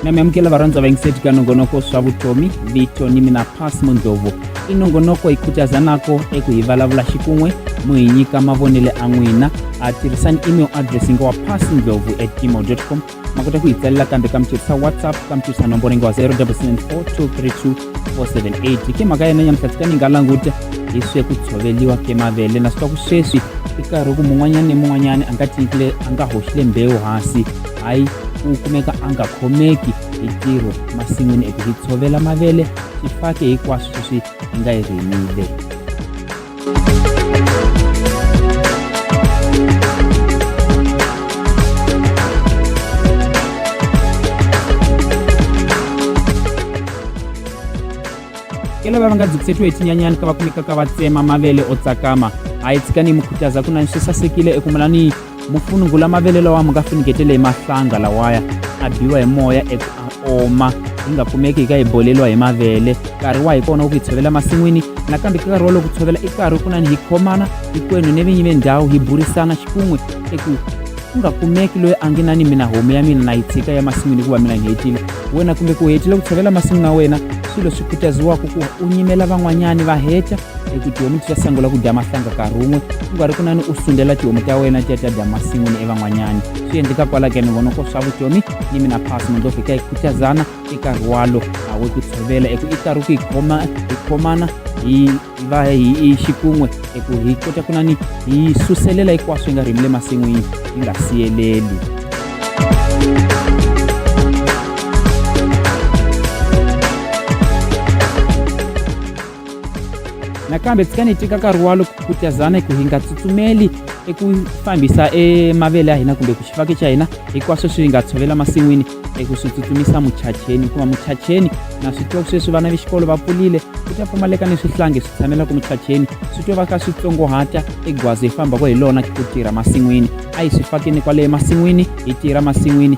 na miamukela varondza vaingiseti ka nongonoko swa vutomi vito ni mina pas mundzovu i nongonoko hi khutazanako eku hi vulavula xikun'we mu hi nyika mavonele a n'wina a tirhisani email address nga wa pas ndlovu at gmail com ma kota ku hi tsalela kambe ka mi tirhisa whatsapp ka mi tirhisa nomboro yi nga wa 0774232478 ke mhaka yena nyamuhla tika ni nga languta hi swe ku tshoveliwa ke mavele na swi twa ku sweswi i karhi ku mun'wanyana ni mun'wanyana a nga tinkile a nga hoxile mbewu hansi hayi u kumeka a nga khomeki hi ntirho masin'wini eku hi tshovela mavele xifake hinkwaswo sweswi hi nga yi rimile kela va va nga byi kusetiwe hi tinyanyani ka va kumeka ka va tsema mavele o tsakama a yi tshika ni yi mukhutaza ku na ni swi sasekile eku mulani mufunungu la mavele lawa ma nga funungetele hi mahlanga lawaya a biwa hi moya eku a oma yi nga kumeki yi ka yi boleliwa hi mavele nkarhi wa hi kona wa ku yi tshovela masin'wini nakambe ka nkarhi wolowo ku tshovela i nkarhi kunani hi khomana hinkwenu ni vinyi ve ndhawu hi burisana xikun'we eku ku nga kumeki loyi a nge na ni mina homu ya mina na yi tshika ya masin'wini hikuva mina ni hetile wena kumbe ku hetile ku tshovela masin'wini ya wena swilo swi khutaziwaka ku u nyimela van'wanyani va heta ekuti tihomu tichasangula kudya mahlanga karumwe kungari kunani u sundela tihomu ta wena ti ya ta dya masin'wini evan'wanyani swi endleka kwalake ni vona ko swa vutomi ni mina phasi mi ndovhika hi khutazana eka rwalo awo ku tshovela eku i karhi ku hi khoma hi khomana hi va hi xikun'we eku hi kota kunani hi suselela hinkwaswo hi nga rimi le masin'wini hi nga siyeleli nakambe tshika ni tika nkarhi wa loko ku tazana ku hi nga tsutsumeli eku fambisa emavele ya hina kumbe ku xifaki xa hina hinkwaswo swi nga tshovela masin'wini eku swi tsutsumisa muchacheni hikuva muchacheni na swi twa sweswi vana va xikolo va pfulile ku ta pfumaleka ni swihlangi swi tshamela ku muchacheni swi twa va ka swi tsongohata egwazi hi fambaka hi lona ku tirha masin'wini a hi swi fakeni kwale emasin'wini hi tirha masin'wini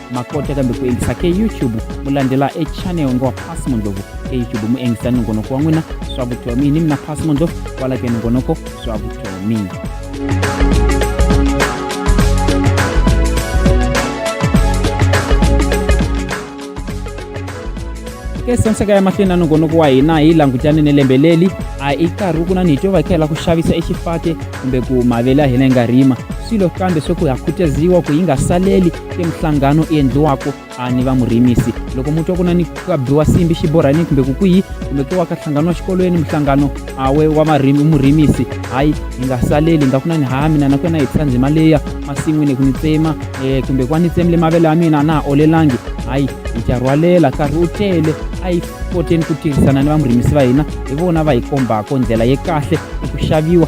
makota kambe ku endlisa ke youtube mu landzela e channel ngo pass mondlovu e youtube mu engisa nongonoko wa n'wina swa vutomi ni mina pass mondlovu kwala ke nongonoko swa vutomi ke sanseka ya mahlweni na nongonoko wa hina hi langutane ni lembe leli a i karhi wu kuna ni hi to vakela ku xavisa exifate kumbe ku mavele ya hina yi nga rima swilo kambe swo ku ha khutaziwa ku yi nga saleli i minhlangano i endliwaka ni vamurimisi loko mu twa ku na ni ka biwa simbi xiborhani kumbe ku kwihi kumbe ku wa ka nhlangano wa xikolweni minhlangano awe wa marimi murimisi hayi hi nga saleli nga ku na ni ha mina na ku yena hi tshika ndzima leya masin'wini ku ni tsema um kumbe ku va ni tsemile mavele ya mina a na ha olelangi hayi hi ta rhwalela nkarhi u tele a yi koteni ku tirhisana ni vamurimisi va hina hi vona va hi kombaka ndlela ye kahle hi ku xaviwa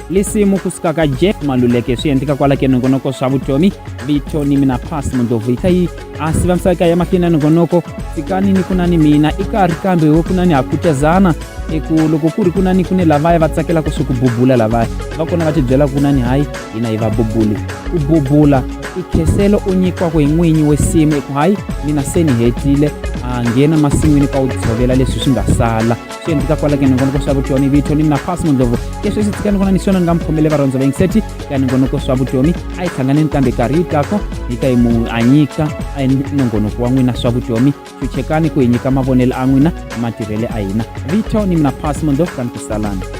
lisimu kusuka ka jeff maluleke swi endleka kwala ke nongonoko swa vutomi vito ni mina pas mundlovu ika yi a siva misaka ya mahlweni ya nongonoko fikani ni kunani mina i karhi kambe wo kunani ha kutezana eku loko ku ri kunani ku ne lavaya va tsakela ku swi ku bubula lavaya va kona va tibyela kunani hayi hina hi va bubuli ku bubula i kheselo u nyikiwaka hi n'winyi we simu eku hayi mina se ni hetile a nghena masin'wini ka wu tshovela leswi swi nga sala swi endleka kwala ka ningonoko swa vutomi vito ni mina fasi mundlovu leswi swi tsika ni vona ni swona ni nga mi khomele varhandza va yingiseti ka ningonoko swa vutomi a yi hlangane ni kambe karhi yi tako hi ka yi mu a nyika a yi nongonoko wa n'wina swa vutomi chuchekani ku hi nyika mavonelo a n'wina matirhele a hina vito ni mina fasi mundlovu ka ni ku salana